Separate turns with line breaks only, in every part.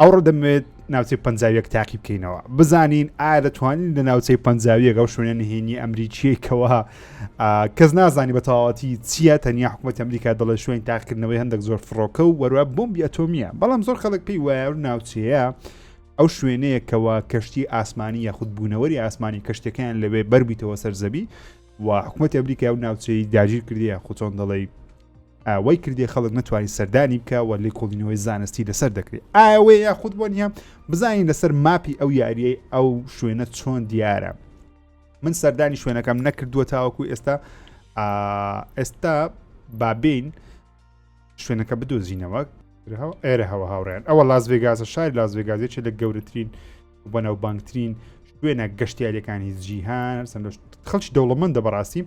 ئەوڕۆ دەمەوێت ناوچەی پەنجاویەک تاقی بکەینەوە بزانین ئایا دەتوانین لە ناوچەی پەنجاویەک ئەو شوێنە نهێنی ئەمریکیەکەوە کەس نازانی بە تەواوەتی چییە تەنیا حکوومەت ئەمریکا دەڵێ شوێن تاقکردنەوەی هەندێک زۆر فڕۆکە و وەروە بمبی ئەتۆمیە بەڵام زۆر خەڵک پێی وایە و ناوچەیە ئەو شوێنەیەکەوە کەشتی ئاسمانی یاخود بوونەوەری ئاسمانی کەشتەکەیان لەوێ بەربیتەوە سەرزەبی و حکوومەت ئەمریکا و ناوچەی داگیر کردی یاخود چۆن دەڵی وای کردیە خەڵک نەتوانین سەردانی بکە و لێکۆڵینەوەی زانستی لەسەر دەکرێت ئاوێ یاخود بۆ نیە بزانین لەسەر ماپی ئەو یاریەی ئەو شوێنە چۆن دیارە من سەردانی شوێنەکەم نەکردووە تاوەکو ئێستا ئێستا بابین شوێنەکە بدۆزینەوە ئێرە هەوە هاوڕێن ئەوە لاس ڤێگازە شار لاس ڤێگازێکی لە گەورەترین بەناو بانگترین شوێنە گەشتیارەکانی جیهان سند خەڵکی دەوڵەمەندە بەڕاستی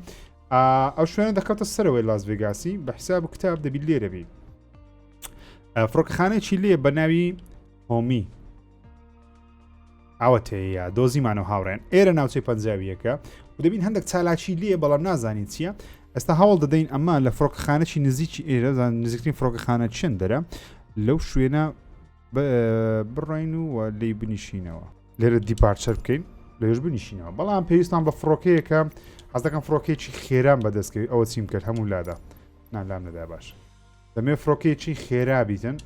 ئا ئەو شوێنە دەکەوتە سەرەوەی لاس ڤێگاسی بە حساب و کتاب دەبی لێرەبی فڕۆکەخانەیەکی لێ بە ناوی هۆمی ئاوەتەیە دۆزیمانەوە هاوڕێن ئێرە ناوچەی پەنجاویەکە و دەبین هەندێک چالاکی لێ بەڵام نازانین چییە ئەستا هەوڵ دەدەین ئەمە لە فڕۆکەخانەی نزیکی ئێرە نزیکترین فڕۆکەخانە چنددەرە لەو شوێنە بڕین و لی بنیشینەوە لێرە دیپارچەر بکەین لەێش بنیشینەوە بەڵام پێویستان بە فڕۆکەیەکە حەزەکەم فڕۆکێکی خێران بەدەستکەوی ئەوە چیم کرد هەموو لادا نالام نەدا باش دەمێ فڕۆکێکی خێرا بیتن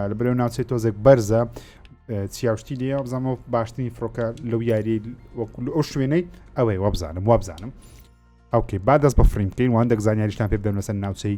لە بەرەو ناوچەی تۆزێک بەرزە چیاوشتی لێ بزانەوە باشترین فڕۆکە لەو یاری وەکو ئەو شوێنەی ئەوەی وابزانم وابزانم ئەوکەی با دەست بە فڕیم بکەین وان دەک زانیاریشتان پێ بدەم لەسەر ناوچەی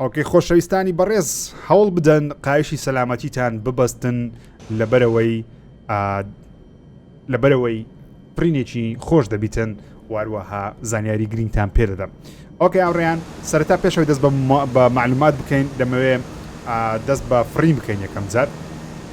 ئۆکەی خۆشەویستانی بەڕێز هەوڵ بدەن قایشی سەلامەتیتان ببەستن لەبەرەوەی لەبەرەوەی پرینێکی خۆش دەبیتن واروەها زانیاری گرینگتان پێ دەدەم ئۆکەی ئەوڕیان سەرتا پێشەوەی دەست بە معلومات بکەین دەمەوێ دەست بە فڕین بکەین یەکەم جار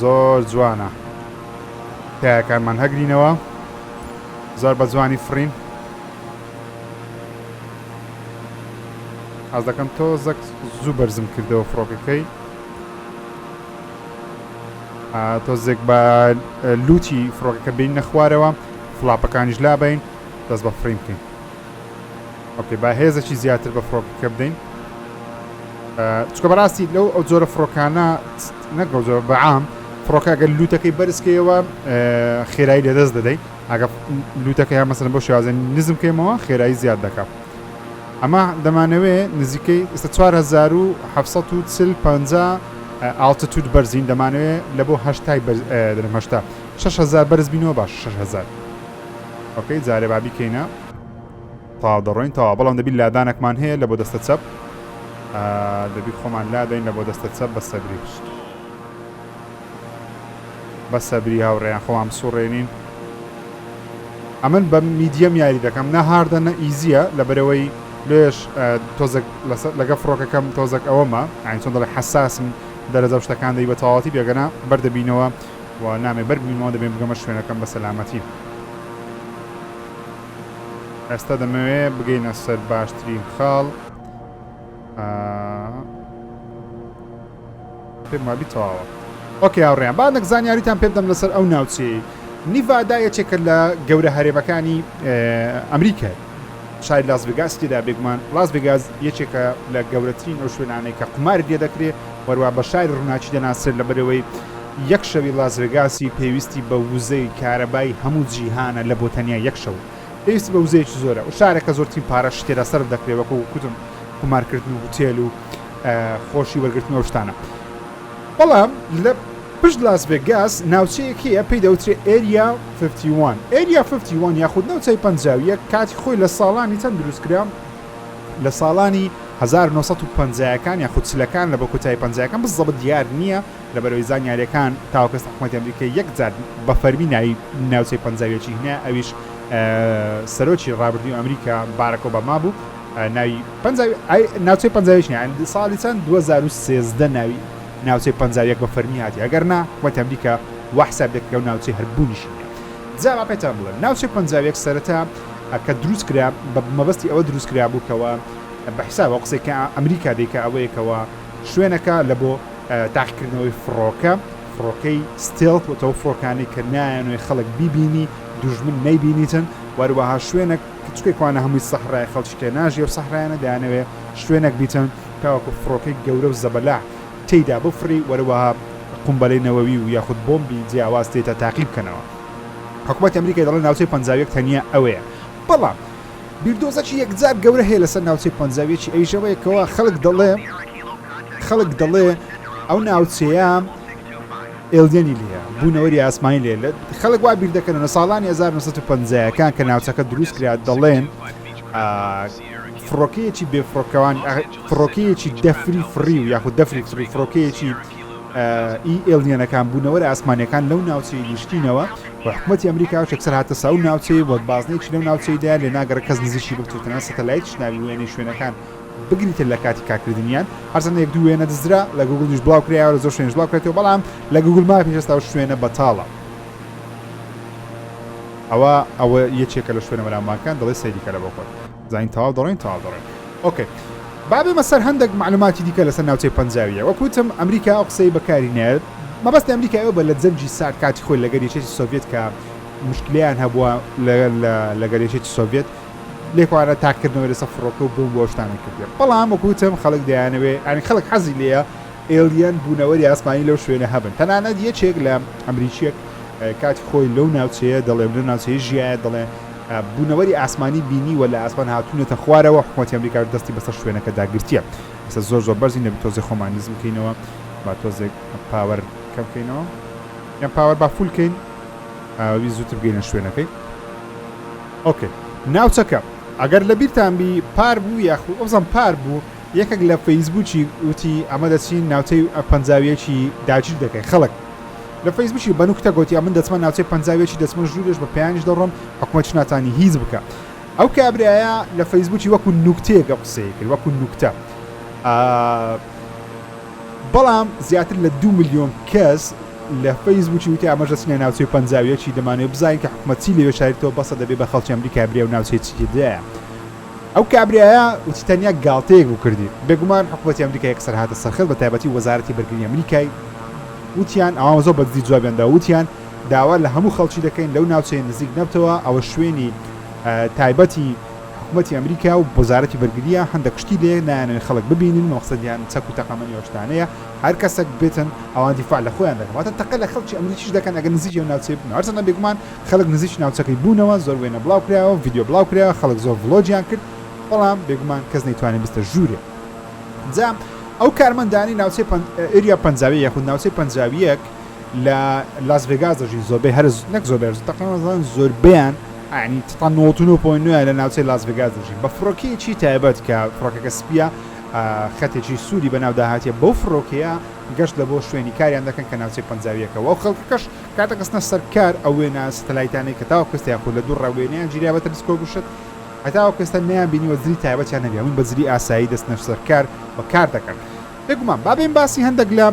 زۆر جوانە تایەکانمان هەگرینەوە زۆر بە جوانی فڕین حەز دەکەم تۆ زەک زوو بەرزم کردەوە فڕۆکەکەی تۆزێک بە لوتی فڕۆکەکە بین نەخوارەوە فلاپەکانیش لابین دەست بە فڕیم بکەین ئۆکەی با هێزەکی زیاتر بە فڕۆکەکە بدەین چکە بەڕاستی لەو ئەو جۆرە فڕۆکانە نەگە زۆر بەعام فڕۆکە گەل لوتەکەی بەرزکەیەوە خێرایی لەدەست دەدەیت ئەگە لوتەکە یا مەسەن بۆ شازن نزم کەیمەوە خێرایی زیاد دەکات ئەمە دەمانەوێ نزیکەی ئێستا 1940 ئاڵتەتوت بەرزین دەمانەوێ لە بۆ هەشتای بەرزمەشتا 6هزار بەرز بینەوە باش 6هزار ئۆکەی جارێ با بیکەینە تەواو دەڕۆین تەواو بەڵام دەبی لادانەکمان هەیە لە بۆ دەستە چەپ دەبی خۆمان لادەین لە بۆ دەستە چەپ بە سەبری پشت بە سەبری هاوڕێیان خۆمان بسوڕێنین ئەمن بە میدیەم یاری دەکەم نە هاردە نە ئیزیە لە بەرەوەی لێش تۆزەک لەگە فڕۆکەکەم تۆزەک ئەوەمە ئاین چۆن دەڵێ حساسم دەرەجە شتەکان دەی بە تەواتی بێگەنا بەردەبینەوە و نامێ بەر بمینمەوە دەبێ بگەمە شوێنەکەم بە سەلامەتی ئێستا دەمەوێ بگەینە سەر باشترین خاڵ پێم وابی تەواوە ئۆکە هاوڕێیان با نەک زانیاریتان پێ بدەم لەسەر ئەو ناوچەیە نیڤادا یەکێکە لە گەورە هەرێمەکانی ئەمریکای شاری لاس ڤێگاسی تێدا بێگومان لاس ڤێگاس یەکێکە لە گەورەترین ئەو شوێنانەی کە قوماری لێ دەکرێ وەروا بە شاری ڕووناکی دەناسرێت لەبەرەوەی یەک شەوی لاس ڤێگاسی پێویستی بە وزەی کارەبای هەموو جیهانە لە بۆ تەنیا یەک شەو پێویستی بە وزەیەکی زۆرە و شارەکە زۆرترین پارەش تێدا سەرف دەکرێت وەکو کوتم قومارکردن و هوتێل و خۆشی وەرگرتن و شتانە بەڵام لە پشت لاس ڤێگاس ناوچەیەک هەیە پێی دەوترێت ئێریا 51 ئێریا 51 یاخود نەوچەی پەنجاویە کاتی خۆی لە ساڵانی چەند دروستکرا لە ساڵانی 1950ەکان یاخود چلەکان لە بە کۆتایی پەنجاکان بزەبت دیار نییە لە بەرەوەی زانیارەکان تاوکەس حکومەتی ئەمریکای یەکجار بە فەرمی ناوی ناوچەی پەنجاویەکی هنا ئەویش سەرۆکی ڕابردوی ئەمریکا بارەکۆ بە مابوو ناوی پەنجاوی ئای ناوچەی پەنجاویش نیە ئەند ساڵی چەند 2013 ناوی ناوچەی پەنجاویەک بە فەرمی هاتی ئەگەر نا حکومەتی ئەمریکا وا حساب دەکرێ و ناوچەی هەر بوونیشی نیە جا با پێتان بڵێم ناوچەی پەنجاویەک سەرەتا کە دروست کرا بە مەبەستی ئەوە دروست کرا بوو کەوە بە حساب ئەو قسەی کە ئەمریکا دەیکا ئەوەیە کەوە شوێنەکە لە بۆ تاقیکردنەوەی فڕۆکە فڕۆکەی ستێڵت و تەو فڕۆکانی کە نایەنێ خەڵک بیبینی دوژمن نەیبینیتن وەروەها شوێنێک کچکەی کوانە هەمووی سەحرایە خەڵکیکە ناژی ئەو سەحرایانە دەیانەوێ شوێنەک بیچن تاوەکو فڕۆکەی گەورە و زەبەلاح تێیدا بفڕی وەروەها قومبەلەی نەوەوی و یاخود بۆمبی جیاواز تێیتا تاقی بکەنەوە حکومەتی ئەمریکای دەڵێ ناوچەی پەنجا و یەک تەنیا ئەوەیە بەڵام بیردۆزەکی یەکجار گەورە هەیە لەسەر ناوچەی پەنجا و یەکی ئەویش ئەوەیە کەوا خەڵک دەڵێ خەڵک دەڵێ ئەو ناوچەیە ئێلیەنی لێیە، بوونەوەری ئاسمانی لێیە، خەڵک وا بیر دەکەنەوە لە ساڵانی هەزار و نۆ سەد و پەنجا ەکان کە ناوچەکە دروست کرا دەڵێن فڕۆکەیەکی بێفڕۆکەوان فڕۆکەیەکی دەفری فڕی و یاخود دەفری فڕی فڕۆکەیەکی ئی ئێلیەنەکان بوونەوەرە ئاسمانەکان لەو ناوچەی نیشتینەوە و حکوومەتی ئەمریکا و چەکسەر هاتە ساو ناوچەی وەک بازنێکی لەو ناوچەیدا لێ ناگەڕ کەس نزیشی بکتوتنە سەتەلایت شناوی وێنەی شوێنەکان بگریتە لە کاتی کارکردنیان هەرچەندە یەک دوو وێنە دزرا لە گوگڵیش بڵاو کرایەوە لە زۆر شوێنیش بڵاو کرێتەوە بەڵام لە گوگڵ ماپیش هێستا ئەو شوێنە بەتاڵە ئەوە ئەوە یەکێکە لە شوێنە بەناوبانگەکان دەڵێ سەیری کەرە بۆ خۆت زانین تەواو دەڕۆین تەواو دەڕۆین ئۆکەی بابێمە سەر هەندێک معلوماتی دیکە لەسەر ناوچەی پەنجاویە وەکوتم ئەمریکا ئەو قسەی بەکاری نایێت مەبەست ئەمریکا ئەو بە لە جەنگی سارد کاتی خۆی لەگەر یەکێتی سۆڤێت کە مشکلیان هەبووە لەگەر لە لەگەر یەکێتی سۆڤێت لێکۆانە تاککردنەوەی لەسەر فڕۆکە و بۆمب و ئەو شتانە کردیە بەڵام وەکو وتم خەڵک دەیانەوێ یانی خەڵک حەزی لێیە ئێلیەن بوونەوەری ئاسمانی لەو شوێنە هەبن تەنانەت یەکێک لە ئەمریکیەک کاتی خۆی لەو ناوچەیە دەڵێ لەو ناوچەیە ژیایە دەڵێ بوونەوەری ئاسمانی بینی وە لە ئاسمان هاتوونەتە خوارەوە حکوومەتی ئەمریکاش دەستی بەسەر شوێنەکە داگرتیە ئێستا زۆر زۆر بەرزی نەبی تۆزێ خۆمان نزم بکەینەوە با تۆزێک پاوەر کەم بکەینەوە یان پاوەر با فولکەین ئەویست زوتر بگەینە شوێنەکەی ئۆکەی ناوچەکە ئەگەر لە بیرتان بی پار بوو یاخود ئەوزان پار بوو یەکێک لە فەیسبوکی وتی ئەمە دەچین ناوچەی ئە پەنجاویەکی داگیر دەکەین خەڵک لە فەیسبوکی بە نوکتە گوتی ئەمن دەچمە ناوچەی پەنجاویەکی دەچمە ژوورێش بە پێیانیش دەڕۆم حکومەتش ناتانی هیچ بکە ئەو کابرایە لە فەیسبوکی وەکو نوکتەیەکە قسەی کرد وەکو نوکتە ئا بەڵام زیاتر لە دوو ملیۆن کەس لە فەیسبووکی وتی ئاماژە چنە ناوچەی پەنجا و یەکی دەمانەوێت بزانین کە حکومەت چی لەوێ شاریتەوە بەسە دەبێ بە خەڵکی ئەمریکا برێ و ناوچەیەکی تێدایە ئەو کابرایە وتی تەنیا گاڵتەیەک بوو کردی بێگومان حکوومەتی ئەمریکا یەکسەر هاتە سەرخەت بە تایبەتی وەزارەتی بەرگری ئەمریکای وتیان ئەوان زۆر بەدزی جوابیاندا وتیان داوا لە هەموو خەڵکی دەکەین لەو ناوچەیە نزیک نەبتەوە ئەوە شوێنی تایبەتی حکومەتی ئەمریکا و وەزارەتی بەرگرییە هەندەک شتی لێ نایەنن خەڵک ببینن مەقسەدیان چەک و تەقەمەنی ئەو شتانەیە هەر کەسەک بێتن ئەوان دیفاع لە خۆیان دەکەن واتە تەقە لە خەڵکی ئەمریکیش دەکەن ئەگەر نزیکی ئەو ناوچەیە بن هەرچەندە بێگومان خەڵک نزیکی ناوچەکەی بوونەوە زۆر وێنە بڵاو کراوە ڤیدیۆ بڵاو کراوە خەڵک زۆر ڤڵۆگیان کرد بەڵام بێگومان کەس نەیتوانی بستە ژوورێ جا ئەو کارمەندانی ناوچەی پەنج ئێریا پەنجاوی یاخود ناوچەی پەنجاویەک لە لاس ڤێگاس دەژین زۆربەی هەر نەک زۆربەر تەقریبا زۆربیان یانی تتان نۆت و نۆ پۆینت نۆ لە ناوچەی لاس ڤێگاس دەژین بە فڕۆکەیەکی تایبەت کە فڕۆکەکە سپییە خەتێکی سووری بەناودا هاتیە بەو فڕۆکەیە گەشت لە بۆ شوێنی کاریان دەکەن کە ناوچەی پەنجاویەکە و خەڵکەکەش کاتە کەسنە سەرکار ئەو وێنە ستەلایتانەی کە تاوە کەستی یاخود لە دوو ڕاوێنەیان گیریا بە تەلسکۆ گوشت هەتاوە کەستە نیان بینیوە زری تایبەتیان نەبێ من بەزری ئاسایی دەستنە سەرکار و کار دەکەن بێگومان بابێن باسی هەندێک لە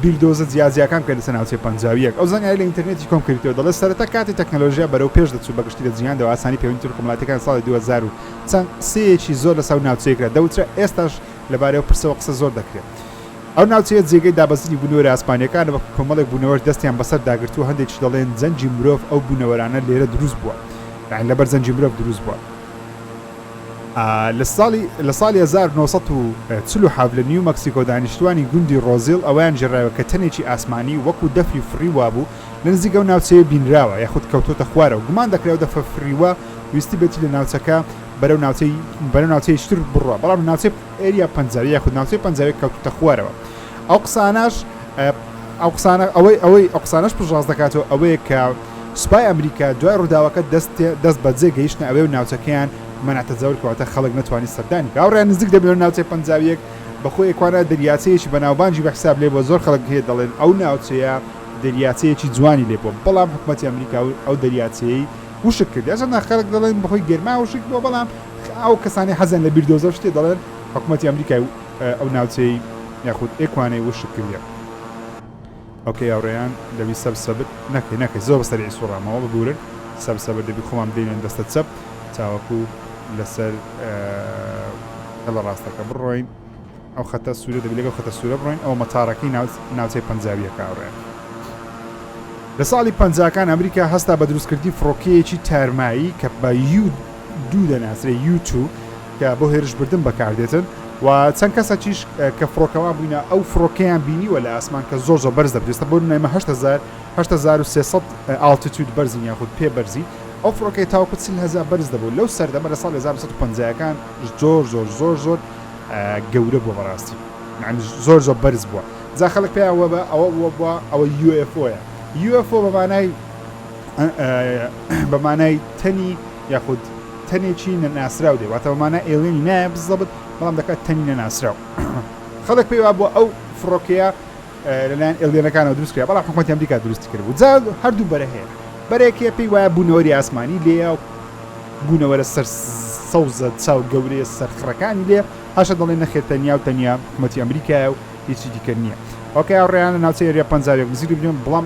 بیردۆزە جیاجیاکان بکە لەسەر ناوچەی پەنجاویەک ئەو زانیاری لە ئینتەرنێتی کۆم کردیتەوە دەڵێت سەرەتا کاتی تەکنەلۆژیا بەرەو پێش دەچوو بەگشتی لە جیهاندا و ئاسانی پەیوەندی تورکە ملاتیەکان ساڵی دوو هەزار و چەند قسەیەکی زۆر لەسەو ناوچەیە کرا دەوترا ئێستاش لەبارەی ئەو پرسەوە قسە زۆر دەکرێت ئەو ناوچەیە جێگەی دابەزینی بونەوەرە ئەسمانیەکانە بە کۆمەڵێک بونەوەر دەستیان بەسەر داگرتوە هەندێکیش دەڵێن جەنگی مرۆڤ ئەو بونەوەرانە لێرە دروست بوە یانی لەبەر جەنگی مرۆڤ دروست بوە. لە ساڵی لە ساڵی هەزار و نۆ سەد و چل و حەڤ لە نیو مەکسیکۆ دانیشتووانی گوندی ڕۆزیڵ ئەوەیان ژەرایەوە کە تەنێکی ئاسمانی وەکو دەفری فڕی وابوو لە نزیک ئەو ناوچەیە بینراوە یاخود کەوتۆتە خوارەوە گومان دەکرێت ئەو دەفرە فریوە ویستبێتی لە ناوچەکە بەرەو ناوچەی بەرەو ناوچەی تر بڕوا بەڵام ناوچەی ئێریا پەنجاوی یاخود ناوچەی پەنجاوی کەوتۆتە خوارەوە ئەو قسانەش ئەو قسانە ئەوەی ئەوەی ئەو قسانەش پشتڕاست دەکاتەوە ئەوەیە کە سوپای ئەمریکا دوای ڕووداوەکە دەست دەست بەجێ گەیشتنە ئەوێ و ناوچەکەیان مەنع تەجاول کەواتە خەڵک نەتوانی سەردانی بکە هاوڕێیان نزیک دە ملیۆن ناوچەی پەنجاویەک بەخۆی ئەکوانا دەریاچەیەکی بەناوبانگی بەحساب لێبووە زۆر خەڵک هەیە دەڵێن ئەو ناوچەیە دەریاچەیەکی جوانی لێبووە بەڵام حکومەتی ئەمریکا ئەو دەریاچەیەی وشک کرد هەرچەندە خەڵک دەڵێن بەهۆی گەرما وشک بووە بەڵام ئەو کەسانی حەزیان لە بیردۆزەو شتێ دەڵێن حکومەتی ئەمریکای ئەو ناوچەی یاخود ئێکوانەی وشک کردیە. ئۆکەی هاوڕێیان دەبی سەب سەبت نەکەی نەکەی زۆر سەریعی سوڕامەوە ببورن سەب سەبت دەبی خۆمان بدەینە دەستە چەپ تاوەکو لەسەر هێڵە ڕاستەکە بڕۆین ئەو خەتە سوورە دەبی لەگەڵ خەتە سوورە بڕۆین ئەو مەتارەکەی ناوچەی پەنجاویەکە هاوڕێیان لە ساڵی پەنجاکان ئەمریکا هەستا بە دروستکردنی فڕۆکەیەکی تارمایی کە بە یو دوو دەناسرێ یو تو کە بۆ هێرش بردن بەکاردێتن و چەند کەسەکیش کە فڕۆکەوان بووینە ئەو فڕۆکەیان بینیوە لە ئاسمان کە زۆر زۆر بەرز دەبریستە بۆ نایمە 1970 ئالتیتود بەرزین یاخود پێ بەرزین ئەو فڕۆکەی تاوکو چل هزار بەرز دەبوو لەو سەردەمە لە ساڵی 1950ەکان زۆر زۆر زۆر زۆر گەورە بووە بەڕاستی معنی زۆر زۆر بەرز بووە جا خەڵک پێیان وەبە ئەوە بووە بووە ئەوە یو ئێف ئۆیە یو ئێف ئۆ بە مانای بە مانای تەنی یاخود تەنێکی نەناسراو دێ واتە بەمانە ئێلێنی نایە بزەبت بەڵام دەکات تەنی نەناسراو خەڵک پێی وا بووە ئەو فڕۆکەیە لەلایەن ئێلێنەکانەوە دروست کرا بەڵام حکوومەتی ئەمریکا دروستی کرد بوو جا هەردوو بەرە هەیە بەرێکێ پێی وایە بوونەوەری ئاسمانی لێە و بوونەوەرە سەر سەوزە چاو گەورەیە سەرخڕەکانی لێ هەشە دەڵێ نەخێر تەنیا و تەنیا حکوومەتی ئەمریکایە و هیچی دیکە نییە ئەوکە یاڕێیان لە ناوچەی رێ پەنجاوێک نزیری بێن بڵام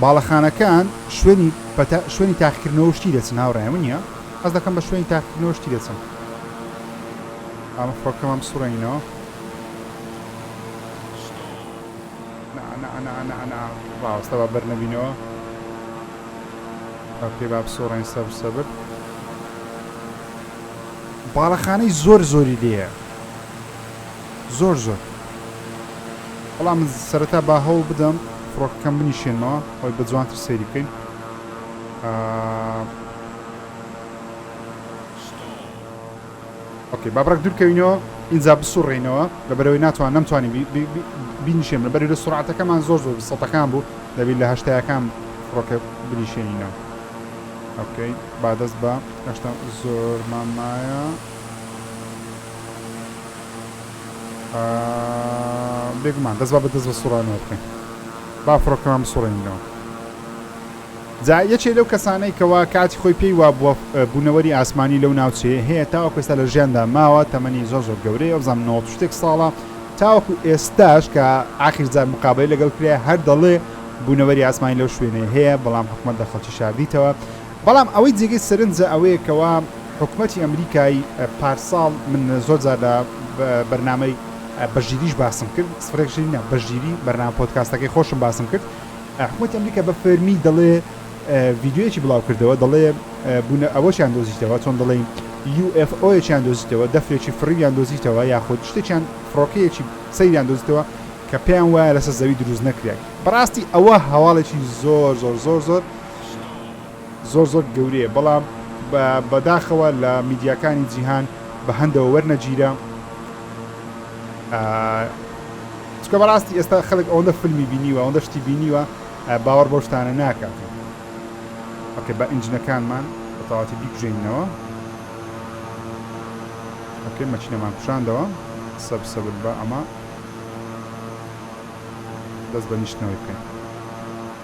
باڵەخانەکان شوێنی پەتا شوێنی تاقیکردنەوە شتی دەچن هاوڕێ من نیە ئەس دەکەم بە شوێنی تاقیکردنەوە شتی دەچن ئەمە فڕۆکەمان بسوڕێنینەوە ڕاوەستە با بەر نەبینەوە ئۆکەی با بسوڕێن سەبر سەبر باڵەخانەی زۆر زۆری لێە زۆر زۆر بەڵام من سەرەتا با هەوڵ بدەم فڕۆکەکەم بنیشێنمەوە ئەوەی بە جوانتر سەیری بکەین ئۆکەی با بڕێک دوورکەوینەوە ئینجا بسوڕێنەوە لە بەرەوەی ناتوان نەمتوانی بینیشێن لە بەری لە سرعاتەکەمان زۆر زۆر سەتەکان بوو دەبی لە هەشتایەکان فڕۆکە بنیشێنینەوە ئۆکەی با دەست بە هەشتا زۆر مامایە بێگومان دەست با بە دەست بە سوڕانەوە بکەین با فڕۆکەمان بسوڕێنینەوە جا یەکێ لەو کەسانەی کەوا کاتی خۆی پێی وا بووە بوونەوەری ئاسمانی لەو ناوچێ هەیە تاوە کوێستا لە ژیاندا ماوە تەمەنی زۆر زۆر گەورەیە ئەوزان نەوە شتێک ساڵە تاوەکو ئێستاش کە ئاخیرزار مقابلی لەگەڵ کرێ هەر دەڵێ بوونەوەری ئاسمانی لەو شوێنێ هەیە بەڵام حکوومەت لە خەڵکی شاردیتەوە بەڵام ئەوەی جێگەی سەرنجە ئەوەیە کەوا حکومەتی ئەمریکای پارساڵ من زۆر جار لە بەرنامەی بەشگیریش باسم کرد سفرێک شیری نا بەشگیری بەرنامە پۆدکاستەکەی خۆشم باسم کرد حکومەتی ئەمریکا بە فەرمی دەڵێ ڤیددیوەکی بڵاو کردەوە دەڵێ بوونە ئەوەشیان دۆزیتەوە چۆن دەڵێ UFOیان دۆزیتەوە دەفرێکی فڕیان دۆزیتەوە یاخود شتێکیان فڕۆکەیەکی سەیریان دۆزیتەوە کە پێیان وایە لەسەر زەوی دروست نەکرێت بەڕاستی ئەوە هەواڵێکی زۆر زۆر زۆر زۆر زۆر زۆر گەورەیە بەڵام بەداخەوە لە میدیاکانی جیهان بە هەندەوە وەرنەگیرا چکە بەڕاستی ئێستا خەڵک ئەوەندە فیلمی بینیوە ئەوەندە شتی بینیوە باوەڕ بەو شتانە ناکات ئۆکە بە ئنجنەکانمان بە تەواتی بیکوژێنینەوە ئۆکە مەچینەمان کوشاندەوە سەب سەبر بە ئەمە دەست بە نیشتنەوەی بکەین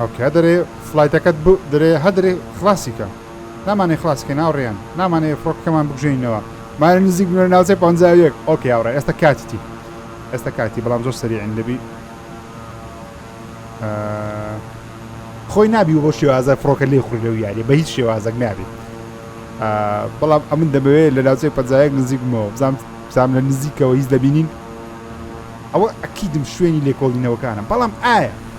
هەوکە دەرێ فڵایتەکەت بو درێ هە درێ خڵاسی کە نامانەێ خڵاسی کە ناوڕێیان نامانەێ فڕۆکە کەمان بکوژێنینەوە مایە نزیک بنە ناوچەێ پەنجا و یەک ئۆکەی هاوڕێ ئێستا کاتیتی ئێستا کاتی بەڵام زۆر سەریعین دەبی ئە خۆی نابی وە بەو شێوازە فڕۆکە لێ خوری لەو یاریە بە هیچ شێوازەک نابی بەڵام ئەمن دەمەوێ لە ناوچەی پەنجایەک نزیک بمەوە بزانام بزانام لە نزیکەوە هیچ دەبینین ئەوە ئەکیدم شوێنی لێکۆڵینەوەکانم بەڵام ئایا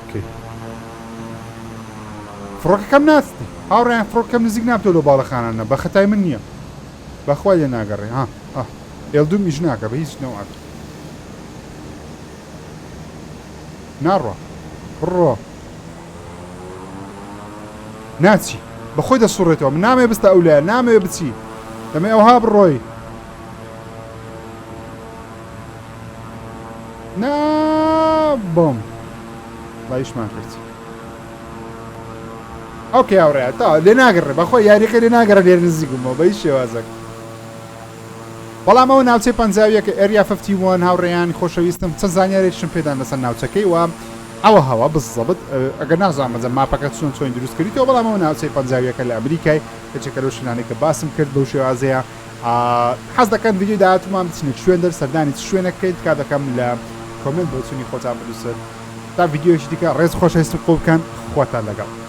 بکەی فڕۆکەکەم ناستی هاوڕێیان فڕۆکەکەم نزیک نابتەوە لەو باڵەخانانە بەخەتای من نیە بەخوای لێ ناگەڕێ ها ها ئێلدوم ئیش ناکە بە هیچ نەوعەک ناڕوا بڕۆ ناچی بەخۆی دەسوڕێتەوە من نامەوێ بستە ئەو لایە نامەوێ بچی دەمەی ئەوها بڕۆی نا بۆم لایشمان کرد ئەو کە یاوڕێ تا لێ ناگەڕێ بەخۆ یاریەکە لێ ناگەڕە لێر نزیک بوومەوە بە هیچ شێوازەک بەڵام ئەو ناوچەی پەنجاویەکە ئەریا ففتی وان هاوڕێیان خۆشەویستم چەند زانیارێکشم پێدان لەسەر ناوچەکەی وە ئەوە هەوا بزەبت ئەگە نازان بەجە ماپەکە چۆن چۆین دروست کردیتەوە بەڵام ئەو ناوچەی پەنجاویەکە لە ئەمریکای کەچەکە لەو شوێنانی کە باسم کرد بەو شێوازەیە حەز دەکەن ڤیدیۆی داهاتوومان بچنە کوێن دەر سەردانی چ شوێنە بکەین تکا دەکەم لە کۆمنت بۆچوونی خۆتان بنووسن تا ڤیدیۆیەکی دیکە ڕێز خۆشەویستم قوڵ بکەن خواتان لەگەڵ